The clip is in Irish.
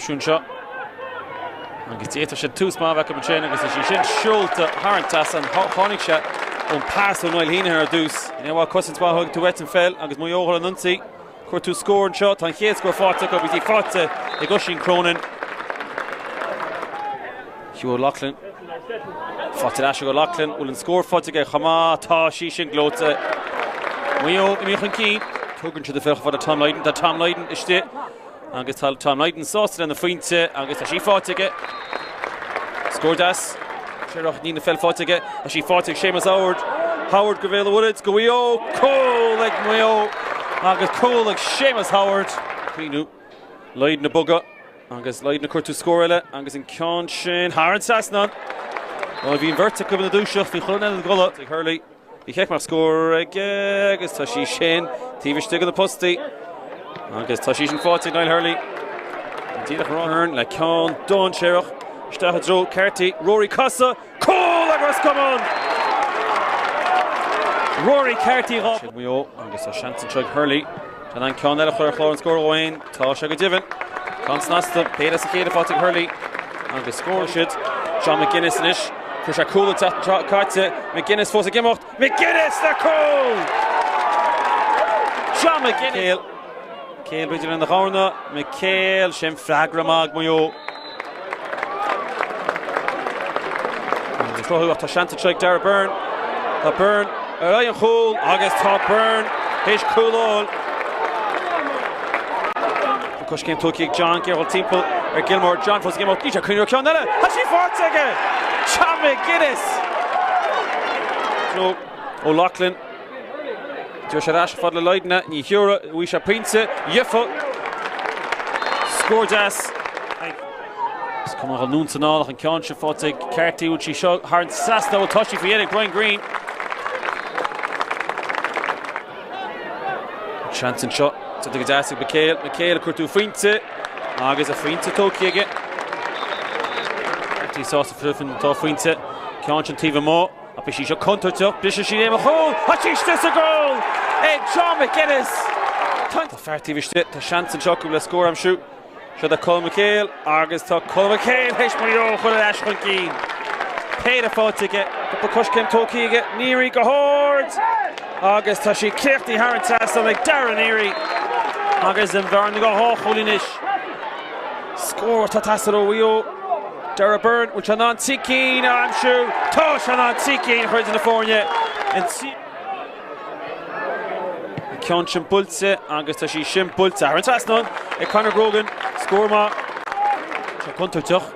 seisiún seo agus d'fhéadfadh sé tús maith a bheith acu ansin agus is í sin siúlta thar an trasnán tháinig sé ón pas ó Niall Heneghan ar dtús. Ba mhaith cosaint maith a thabhairt uait an pheil agus Maigh Eo ar an ionsaí. Ag cuartú scór anseo, tá an chéad scór faighte acu agus í faighte ag Oisín Cronin. Hugh O'Loughlin faighte ar ais ag O'Loughlin, bhfuil an scór faighte aige chomh maith, tá sí sin gleoite. Maigh Eo imithe chun cinn. Tugann siad í chomh fada le Tom Lydon, tá Tom Lydon istigh. Agus tá Tom Lydon sásta lena phointe agus tá sí faighte aige. Scór deas. Tréimhsí na peil faighte aige. Tá sí faighte ag Séamus Howard. Howard ó Bhéal an Mhuirthead, do Mhaigh Eo, cúl ag Maigh Eo agus cúl ag Séamus Howard. Caoineadh. Lydon ag bogadh agus Lydon ag cuartú scór eile agus an ceann sin thar an trasnán. Bhí an bheirt acu ina dúiseacht faoi choinne an ghualainn ag Hurley. Bhí cic mar scór aige agus tá sí sin taobh istigh de na postaí agus tá sí sin faighte ag Niall Hurley, an t-imreoir Ahern le ceann dainséarach isteach i dtreo Carty, Rory ag casadh, cúl ag Ros Comáin Rory Carty dhá. Sin Maigh Eo agus tá seans anseo ag Hurley an ceann eile a chur ar chlár an scór romhainn. Tá sé go deimhin ceann snasta. Péire as an chéad leath faighte ag Hurley agus scóráil siad. Seán McGuinness anois. Chuir sé cúl ag teacht an tseachtain caite. McGuinness fós ag imeacht. McGuinness le cúl! Seán McGuinness! McHale. McHale, b'fhéidir lena ghamhna. McHale, sin freagra maith ag Maigh Eo. Ag cruthú ach tá seans anseo ag Darragh Beirne. Tá Beirne ar aghaidh an chúil agus tá Beirne théis cúl a fháil. Tá coiscéim tugtha ag John Gearailt timpeall ar Gilmour. John fós ag imeacht. Bhí sé ag cuartú ceann eile. Tá sí faighte aige! John McGuinness! Nó O'Loughlin. Thug sé ar ais chomh fada le Lydon, ní thiúrfaidh. Bhuaigh sé pointe, dhifear! Scór deas. Is cuma dho Nunes anall ach an ceann sin faighte ag Carty. Bhfuil sí seo thar an trasnán? Ó tá sí faoi dheireadh ag Brian Greene. An seans anseo. Tá go deas ag McHale. McHale ag cuartú pointe agus a phointe tógtha aige. Carty sásta freisin dhá phointe. Ceann sin taobh amuigh. Ach bhí sí seo contúirteach, briseann sí i mbéal an chúil, tá sí istigh sa gcúl ag Seán McGuinness! Tá fear taobh istigh, tá seans anseo acu le scór a aimsiú. Seo é Colm McHale agus tá Colm McHale théis Maigh Eo a chur ar ais chun cinn. Péire faighte aige, cúpla coiscéim tógtha aige, Neary go hard agus tá sí críochnaithe thar an trasnán ag Darragh Neary agus an bhearna go dhá chúl anois. Scór atá ag teastáil ó Mhaigh Eo, Darragh Byrne, bhfuil sé in ann cicín a aimsiú? Tá sé in ann cicín a chur idir na foirne an tríú huair. Tá an ceann sin buailte agus tá sí sin buailte thar an trasnán ag Conor Grogan. Scór maith. Tá sé contúirteach.